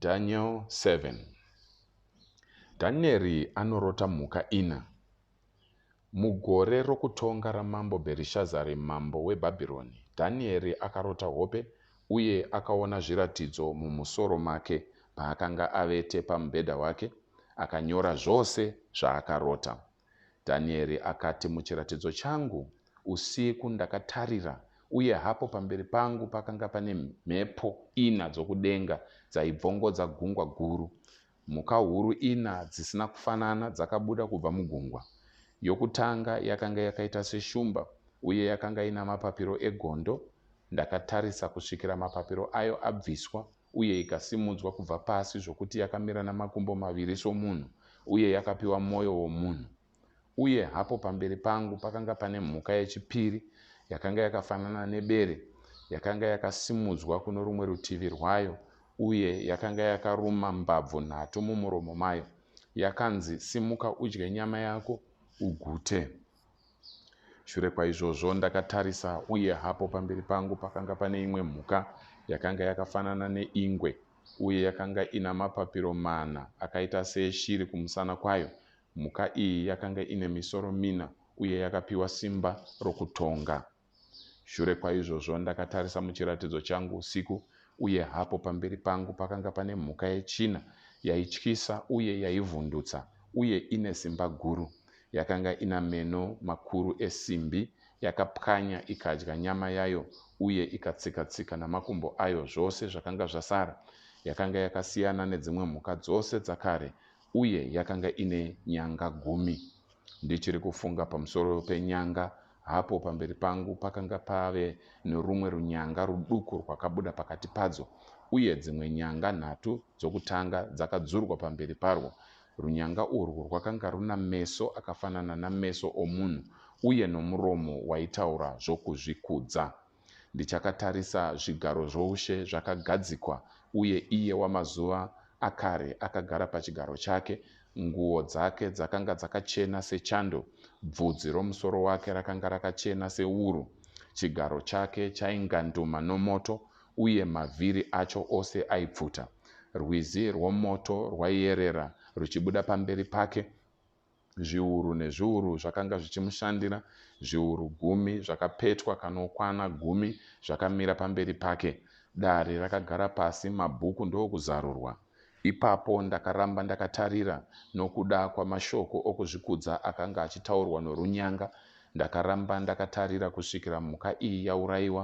Daniel 7 Dhanieri anorota mhuka ina. Mugore rokutonga ramambo Bherishazari mambo weBhabhironi, Dhanieri akarota hope uye akaona zviratidzo mumusoro make paakanga avete pamubhedha wake, akanyora zvose zvaakarota. Dhanieri akati, Muchiratidzo changu usiku ndakatarira, uye hapo pamberi pangu pakanga pane mhepo ina dzokudenga dzaibvongodza gungwa guru. Mhuka huru ina dzisina kufanana dzakabuda kubva mugungwa. Yokutanga yakanga yakaita seshumba, uye yakanga ina mapapiro egondo. Ndakatarisa kusvikira mapapiro ayo abviswa, uye ikasimudzwa kubva pasi zvokuti yakamira namakumbo maviri somunhu, uye yakapiwa mwoyo womunhu. Uye hapo pamberi pangu pakanga pane mhuka yechipiri, yakanga yakafanana nebere, yakanga yakasimudzwa kuno rumwe rutivi rwayo, uye yakanga yakaruma mbabvu nhatu mumuromo mayo, yakanzi, Simuka udye nyama yako, ugute. Shure kwaizvozvo ndakatarisa, uye hapo pamberi pangu pakanga pane imwe mhuka yakanga yakafanana neingwe, uye yakanga ina mapapiro mana akaita seeshiri kumusana kwayo. Mhuka iyi yakanga ine misoro mina, uye yakapiwa simba rokutonga. Shure kwaizvozvo ndakatarisa muchiratidzo changu usiku, uye hapo pamberi pangu pakanga pane mhuka yechina yaityisa uye yaivhundutsa uye ine simba guru. Yakanga ina meno makuru esimbi, yakapwanya ikadya nyama yayo uye ikatsika-tsika namakumbo ayo zvose zvakanga zvasara. Yakanga yakasiyana nedzimwe mhuka dzose dzakare uye yakanga ine nyanga gumi. Ndichiri kufunga pamusoro penyanga, hapo pamberi pangu pakanga pave norumwe runyanga ruduku rwakabuda pakati padzo, uye dzimwe nyanga nhatu dzokutanga dzakadzurwa pamberi parwo. Runyanga urwu rwakanga runa meso akafanana nameso omunhu uye nomuromo waitaura zvokuzvikudza. Ndichakatarisa zvigaro zvoushe zvakagadzikwa, uye iye wamazuva akare akagara pachigaro chake. Nguo dzake dzakanga dzakachena sechando, bvudzi romusoro wake rakanga rakachena sewuru. Chigaro chake chainganduma nomoto, uye mavhiri acho ose aipfuta. Rwizi rwomoto rwaiyerera ruchibuda pamberi pake, zviuru nezviuru zvakanga zvichimushandira, zviuru gumi zvakapetwa kanokwana gumi zvakamira pamberi pake. Dare rakagara pasi, mabhuku ndokuzarurwa. Ipapo ndakaramba ndakatarira, nokuda kwamashoko okuzvikudza akanga achitaurwa norunyanga, ndakaramba ndakatarira kusvikira mhuka iyi yaurayiwa,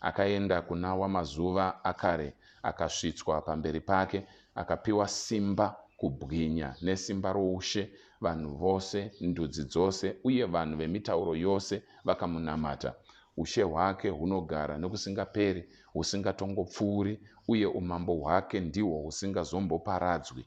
Akaenda kuna Wamazuva Akare, akasvitswa pamberi pake, akapiwa simba, kubwinya, nesimba roushe, vanhu vose, ndudzi dzose, uye vanhu vemitauro yose vakamunamata. Ushe hwake hunogara nokusingaperi, husingatongopfuuri, uye umambo hwake ndihwo husingazomboparadzwi.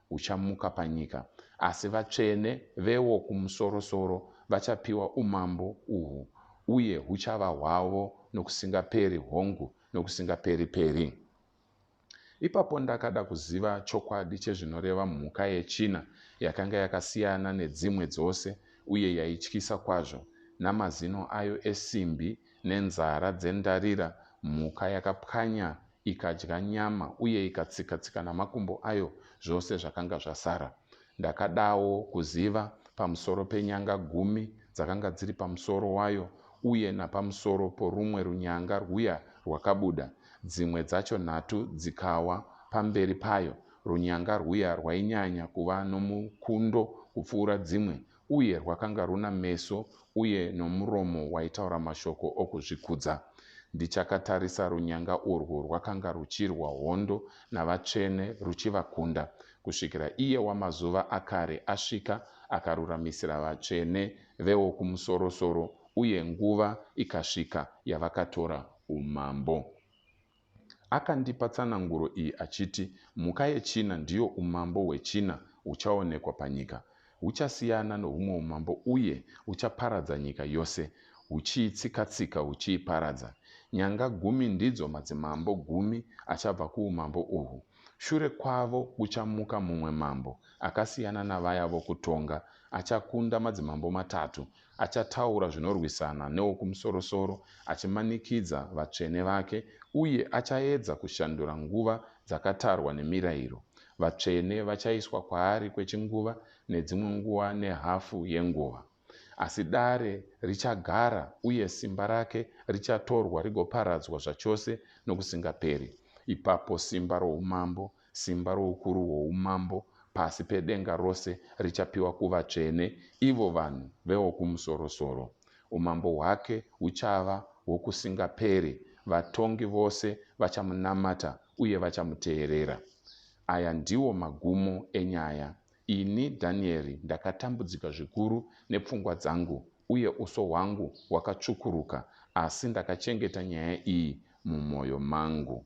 uchamuka panyika, asi vatsvene veWokumusorosoro vachapiwa umambo uhu, uye huchava hwavo nokusingaperi, hongu, nokusingaperi-peri. Ipapo ndakada kuziva chokwadi chezvinoreva mhuka yechina yakanga yakasiyana nedzimwe dzose uye yaityisa kwazvo, namazino ayo esimbi nenzara dzendarira, mhuka yakapwanya ikadya nyama uye ikatsika-tsika namakumbo ayo zvose zvakanga zvasara. Ndakadawo kuziva pamusoro penyanga gumi dzakanga dziri pamusoro wayo uye napamusoro porumwe runyanga rwuya rwakabuda, dzimwe dzacho nhatu dzikawa pamberi payo. Runyanga rwuya rwainyanya kuva nomukundo kupfuura dzimwe uye rwakanga runa meso uye nomuromo waitaura mashoko okuzvikudza. Ndichakatarisa, runyanga urwu rwakanga ruchirwa hondo navatsvene, ruchivakunda, kusvikira iye wamazuva akare asvika, akaruramisira vatsvene veWokumusorosoro, uye nguva ikasvika yavakatora umambo. Akandipa tsananguro iyi achiti, Mhuka yechina ndiyo umambo hwechina huchaonekwa panyika. Huchasiyana nohumwe umambo uye huchaparadza nyika yose, huchiitsika-tsika huchiiparadza. Nyanga gumi ndidzo madzimambo gumi achabva kuumambo uhwu. Shure kwavo kuchamuka mumwe mambo akasiyana navaya vokutonga, achakunda madzimambo matatu Achataura zvinorwisana neWokumusorosoro, achimanikidza vatsvene vake, uye achaedza kushandura nguva dzakatarwa nemirayiro. Vatsvene vachaiswa kwaari kwechinguva, nedzimwe nguva nehafu yenguva. Asi dare richagara, uye simba rake richatorwa rigoparadzwa zvachose nokusingaperi. Ipapo simba roUmambo Simba roukuru hwoumambo pasi pedenga rose richapiwa kuvatsvene, ivo vanhu veWokumusorosoro. Umambo hwake huchava hwokusingaperi, vatongi vose vachamunamata uye vachamuteerera. Aya ndiwo magumo enyaya. Ini, Dhanieri, ndakatambudzika zvikuru nepfungwa dzangu, uye uso hwangu hwakatsvukuruka, asi ndakachengeta nyaya iyi mumwoyo mangu.